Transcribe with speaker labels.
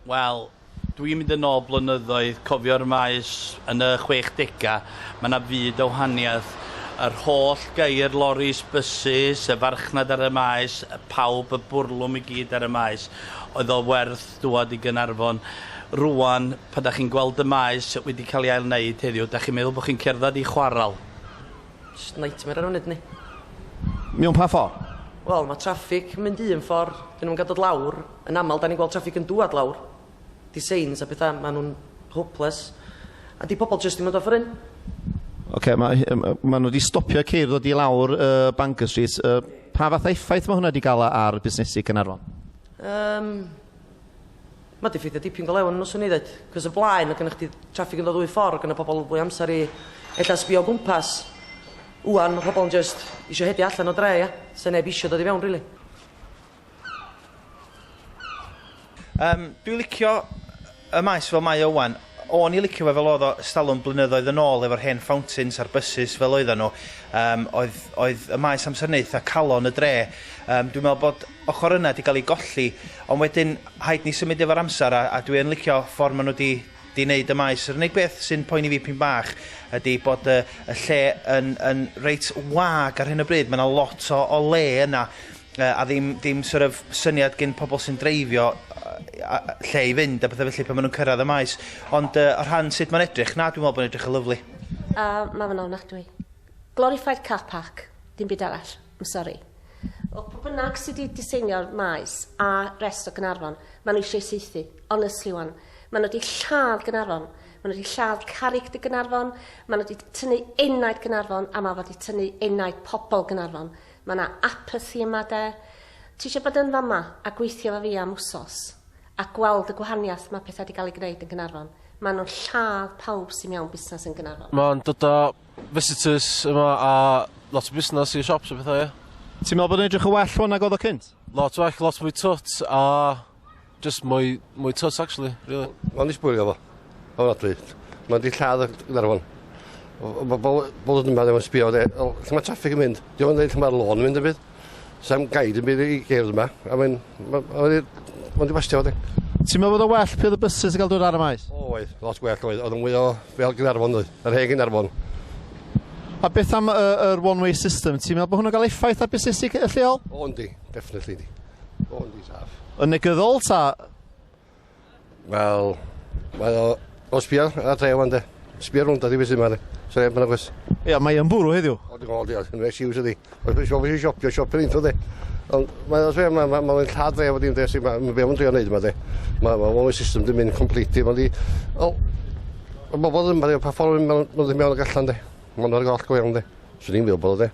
Speaker 1: Wel, dwi'n mynd yn ôl blynyddoedd, cofio'r maes yn y 60au, mae yna fyd o wahaniaeth. Yr holl geir, loris, bysus, y farchnad ar y maes, pawb, y bwrlwm i gyd ar y maes. Oedd o werth dŵad i Gaernarfon. Rŵan, pan da chi'n gweld y maes wedi cael ei ail-wneud heddiw, da chi'n meddwl bod chi'n cerdded i chwarel. Jyst
Speaker 2: nightmare ar y funud yndi? Mewn
Speaker 3: pa ffor? Wel, ma' traffig
Speaker 2: yn mynd un ffor, 'dyn nhw'm yn ga'l dod lawr, yn amal 'dan ni'n gweld traffig yn dŵad lawr, 'di seins a petha, ma' nhw'n hopeless, a 'di pobol jyst 'di mynd off yr un. Ocê, ma'
Speaker 3: hy- yym yy ma' nhw 'di stopio ceir ddod i lawr yy Bangor Street, yy pa fath o effaith ma' hwnna 'di ga'l a- ar busnesi Caernarfon? Yym.
Speaker 2: Mae di ffeithio dipyn go lew arnyn nhw swn i ddeud. Cos y blaen oedd gennych chdi traffig yn dod ddwy ffordd, gyda pobl fwy amser i ella sbio o gwmpas. Ŵan mae pobl yn just eisiau hedio allan o dre ia? Sa neb eisiau dod i fewn rili. Yym
Speaker 4: dwi licio y maes fel mae o ŵan. O'n i licio fe fel oedd o stalwm blynyddoedd yn ôl efo'r hen fountains a'r bysus fel oedden nhw. Yym oedd oedd y maes amser yna eitha calon y dre. Yym dwi'n meddwl bod ochr yna 'di gael ei golli ond wedyn rhaid ni symud efo'r amser a a dwi yn licio ffordd maen nhw 'di 'di wneud y maes. Yr unig beth sy'n poeni fi p'un bach ydy bod y y lle yn yn reit wag ar hyn o bryd. Mae yna lot o o le yna a ddim dim sort of syniad gin pobl sy'n dreifio lle i fynd a bethau felly pan maen nhw'n cyrraedd y maes. Ond uh, o rhan sut mae'n edrych, na, dwi'n meddwl bod edrych yn lyflu. A uh, mae fe'n
Speaker 5: ofnadwy. Glorified car park, dim byd arall. I'm sorry. O pwy bynnag sydd wedi diseinio'r maes a rest o Gynarfon, maen nhw eisiau seithi. Honestly, wan. Maen nhw wedi lladd Gynarfon. Maen nhw wedi lladd carrig dy Gynarfon. Maen nhw wedi tynnu enaid Gynarfon a mae wedi tynnu enaid pobl Gynarfon. Mae yna apathi yma de. Ti eisiau bod yn fama a gweithio efo fi am wsos a gweld y gwahaniaeth mae pethau wedi cael eu gwneud yn Gaernarfon. Maen nhw'n lladd pawb sy'n mewn busnes yn Gaernarfon. Mae'n dod â
Speaker 6: visitors yma a lot o busnes i'r siops a pethau, ie. Ti'n meddwl bod o'n edrych yn
Speaker 3: well rwan nag oedd o cynt? Lot well, lot mwy
Speaker 6: twt a Jyst mwy mwy twt actually rili. O'n i sbwylio fo.
Speaker 7: Ofnadwy. Mae 'di lladd y Gaernarfon. O- ma' bobol bobol yn yma ddim yn sbio de o lle ma' traffig yn mynd. Dio'm yn deud lle ma'r lôn yn mynd dim byd. Sa'm guide yn byd i gerdd yma a mae'n ma' o i mond i bastio fo de. Ti'n meddwl bod o'n well
Speaker 3: pe oedd y buses yn cael dod ar y maes? Oedd, lot gwell oedd.
Speaker 7: Oedd yn mwy o fel Gaernarfon doedd? Yr hen Gaernarfon.
Speaker 3: A beth am y yr one way system ti'n meddwl bod hwnna'n cael effaith ar busnesu c- y lleol? O yndi, definitely
Speaker 7: yndi. All these have. Yn negyddol ta?
Speaker 3: Wel,
Speaker 7: mae o... O sbio, a tre wan de. Sbio rhwnd a di beth sy'n ma de. So neb yn agos. Ia, mae yn bwrw heddiw.
Speaker 3: O, dim ond, ia, yn fe
Speaker 7: siws ydi. Os mae'n siop, eisiau siopio, siopio'r info de. Ond mae'n os fe, mae'n ma, ma, ma lladd dre fod i'n de, sy'n ma, mae be o'n trio wneud yma de. Mae ma, ma, system dim mynd complete, mae'n di... O, y bobl ddim, mae'n pa ffordd yn mynd mewn ag allan de. Mae'n o'r goll go iawn de. Swn i'n meddwl bod o de.